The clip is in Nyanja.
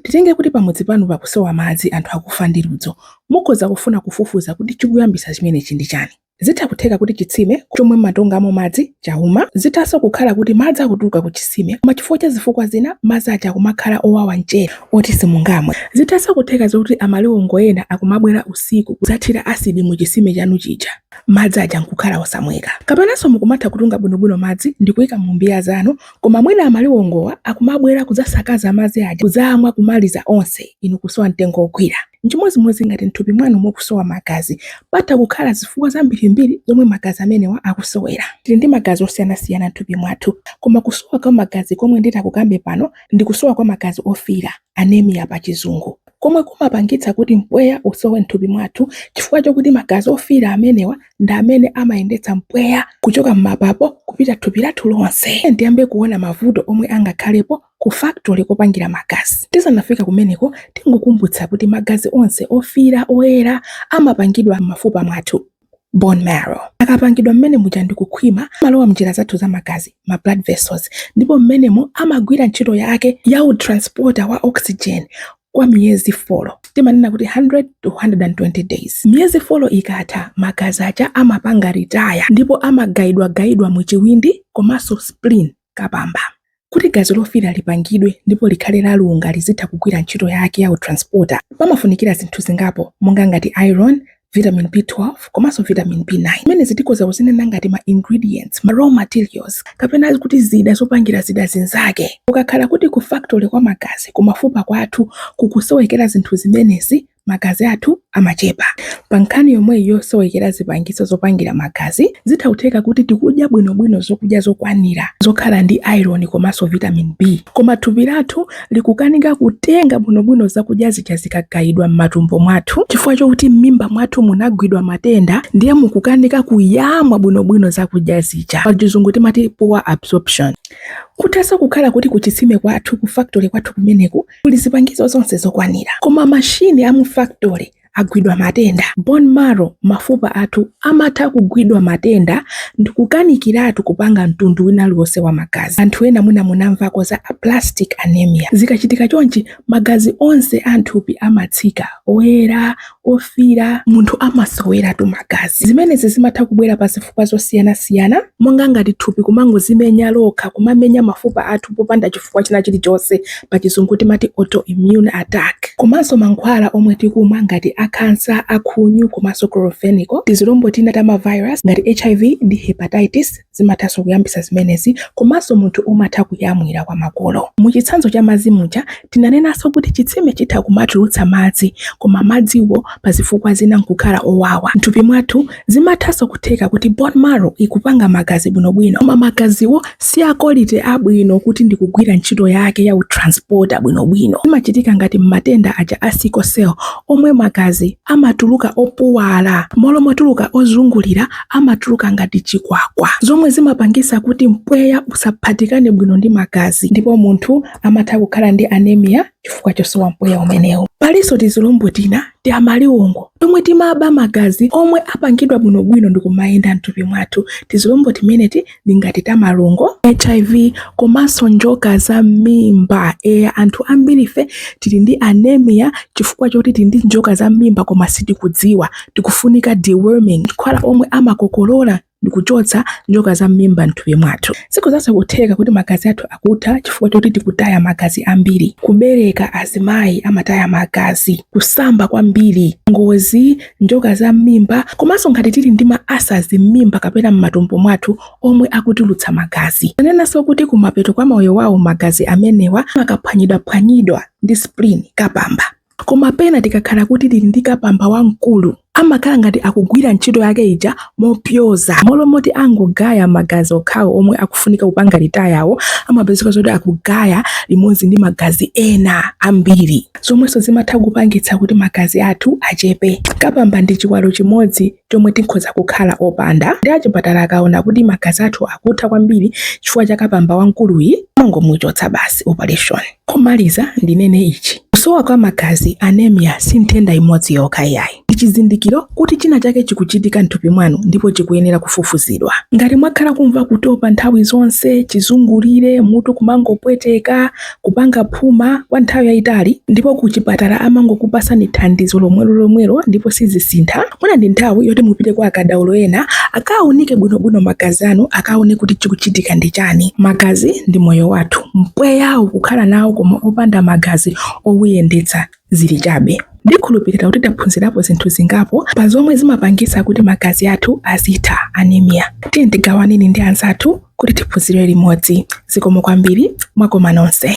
Titenge kuti pamudzi panu pakusowa madzi anthu akufa ndi ludzu. Mukhoza kufuna kufufuza kuti chikuyambisa chimenechi ndi chani. Zitha kutheka kuti chitsime chomwe mumatungamo madzi chauma. Zithanso kukhala kuti madzi akutuluka ku chitsime koma chifukwa cha zifukwa zina madzi aja akumakhala owawa mchere oti simungamwe. Zithanso kutheka zoti amaliwongo ena akumabwera usiku kudzathira asidi mu chitsime chanu chija madzi aja nkukhala osamweka. Kapenanso mukumatha kutunga bwinobwino madzi ndikuika mu mbiya zanu Koma mwina amaliwongowa akumabwera kudzasakaza madzi aja kudzamwa kumaliza onse inu kusowa mtengo wogwira. N'chimodzimodzi ngati m'thupi mwanu mukusowa magazi. Patha kukhala zifukwa zambirimbiri zomwe magazi amenewa akusowera. Tili ndi magazi osiyanasiyana m'thupi mwathu. Koma kusowa kwa magazi komwe nditakukambe pano ndi kusowa kwa magazi ofiira, anemia pachizungu, komwe kumapangitsa kuti mpweya usowe m'thupi mwathu chifukwa chokuti magazi ofiira amenewa ndi amene amayendetsa mpweya kuchoka m'mapapo kupita thupi lathu lonse. Ndiyambe kuona mavuto omwe angakhalepo ku factory kopangira magazi. Tisanafika kumeneko, tingokumbutsa kuti magazi onse ofira oyera amapangidwa m'mafupa mwathu, bone marrow. Akapangidwa mmene muja ndi kukhwima, amalowa mnjira zathu za magazi, ma blood vessels, ndipo mmenemo amagwira ntchito yake ya u transporter wa oxygen kwa miyezi folo timanena kuti 100 to 120 days miyezi folo ikatha magazi aja amapanga ritaya ndipo amagaidwagaidwa mu chiwindi komanso spleen kapamba kuti gazi lofira lipangidwe ndipo likhale lalunga lizitha kugwira ntchito yake ya utransporter pamafunikira zinthu zingapo monga ngati iron vitamin b12 komanso vitamin b9 zimenezi tikhoza kuzinena ngati ma ingredients ma raw materials kapena kuti zida zopangira zida zinzake kukakhala kuti ku factory kwa magazi kumafupa kwathu kukusowekera zinthu zimenezi magazi athu amachepa pa nkhani yomweyo yosowekera zipangizo zopangira magazi zitha kutheka kuti tikudya bwinobwino zokudya zokwanira zokhala ndi iron komanso vitamin b koma thupi lathu likukanika kutenga bwinobwino zakudya zija zikagayidwa m'matumbo mwathu chifukwa chokuti m'mimba mwathu munagwidwa matenda ndiye mukukanika kuyamwa bwinobwino zakudya zija pachizungu timati poor absorption kuthanso kukhala kuti kuchitsime kwathu ku factory kwathu kumeneku kuli zipangizo zonse zokwanira koma mashini a mu factory agwidwa matenda. Bone marrow, mafupa athu, amatha kugwidwa matenda ndikukanikiratu kupanga mtundu wina uliwonse wa magazi. Anthu ena mwina munamvako za aplastic anemia. Zikachitika chonchi, magazi onse a mthupi amatsika, oyera, ofira, munthu amasoweratu magazi. Zimenezi zimatha kubwera pa zifukwa zosiyanasiyana, monga ngati thupi kumangozimenya lokha, kumamenya mafupa athu popanda chifukwa china chilichonse. pachizungu timati autoimmune attack komanso mankhwala omwe tikumwa ngati a kansa akhunyu komanso chloramphenicol tizilombo tina ta mavirus ngati hiv ndi hepatitis zimathanso kuyambisa zimenezi komanso munthu umatha kuyamwira kwa makolo mu chitsanzo cha madzi muja tinanenanso kuti chitsime chitha kumatulutsa madzi koma madziwo pa zifukwa zina nkukhala owawa mthupi mwathu Zimathanso kutheka kuti bone marrow ikupanga magazi bwinobwino koma magaziwo si a quality yabwino kuti ndi kugwira ntchito yake ya utransporter bwinobwino. Zimachitika ngati m'matenda aja a sickle cell omwe magazi amatuluka opuwala, m'malo motuluka ozungulira amatuluka ngati chikwakwa, zomwe zimapangisa kuti mpweya usaphatikane bwino ndi magazi ndipo munthu amatha kukhala ndi anemia. chifukwa chosowa mpweya umenewu. Palinso tizilombo tina ti amaliwongo tomwe timaba magazi omwe apangidwa bwinobwino ndi kumayenda m'thupi mwathu. Tizilombo timeneti ndi ngati ta malungo, hiv komanso njoka za m'mimba. Eya, anthu ambirife tili ndi anemia chifukwa choti tili ndi njoka za m'mimba koma sitikudziwa. Tikufunika deworming, mankhwala omwe amakokolola ndi kuchotsa njoka za m'mimba m'thupi mwathu. Zikhozanso kutheka kuti magazi athu akutha chifukwa choti tikutaya magazi ambiri, kubereka, azimayi amataya magazi, kusamba kwambiri, ngozi, njoka za m'mimba komanso ngati tili ndi ma ulcers m'mimba kapena m'matumbo mwathu omwe akutulutsa magazi. Tanenanso kuti kumapeto kwa moyo wawo magazi amenewa amakaphwanyidwaphwanyidwa ndi spleen, kapamba. Koma pena tikakhala kuti tili ndi kapamba wamkulu, amakhala ngati akugwira ntchito yake ija mopyoza. Mmalo moti angogaya magazi okhawo omwe akufunika kupanga retire wo, amapezeka zoti akugaya limodzi ndi magazi ena ambiri, zomwenso zimatha kupangitsa kuti magazi athu achepe. Kapamba ndi chiwalo chimodzi chomwe tikhoza kukhala opanda, ndi achipatala akaona kuti magazi athu akutha kwambiri chifukwa cha kapamba wamkuluyi, amangomuchotsa basi, operation. Kumaliza ndinene ichi, kusowa kwa magazi, anemia, si nthenda imodzi yokha iyayi. Ndi chizindikiro kuti china chake chikuchitika m'thupi mwanu ndipo chikuyenera kufufuzidwa. Ngati mwakhala kumva kutopa nthawi zonse, chizungulire, mutu kumangopweteka, kupanga phuma kwa nthawi yayitali ndipo ku chipatala amangokupasani thandizo lomwelo lomwelo ndipo sizisintha mwina ndi nthawi yoti mupite kwa akadaulo ena akaunike bwinobwino magazi anu akaone kuti chikuchitika ndi chani magazi ndi moyo wathu mpweyawo kukhala nawo koma opanda magazi owuyendetsa zili chabe. Ndikhulupirira kuti taphunzirapo zinthu zingapo pa zomwe zimapangisa kuti magazi athu azitha, anemia. Tiyeni tigawaneni ndi anzathu kuti tiphunzire limodzi. Zikomo kwambiri, mwakoma nonse.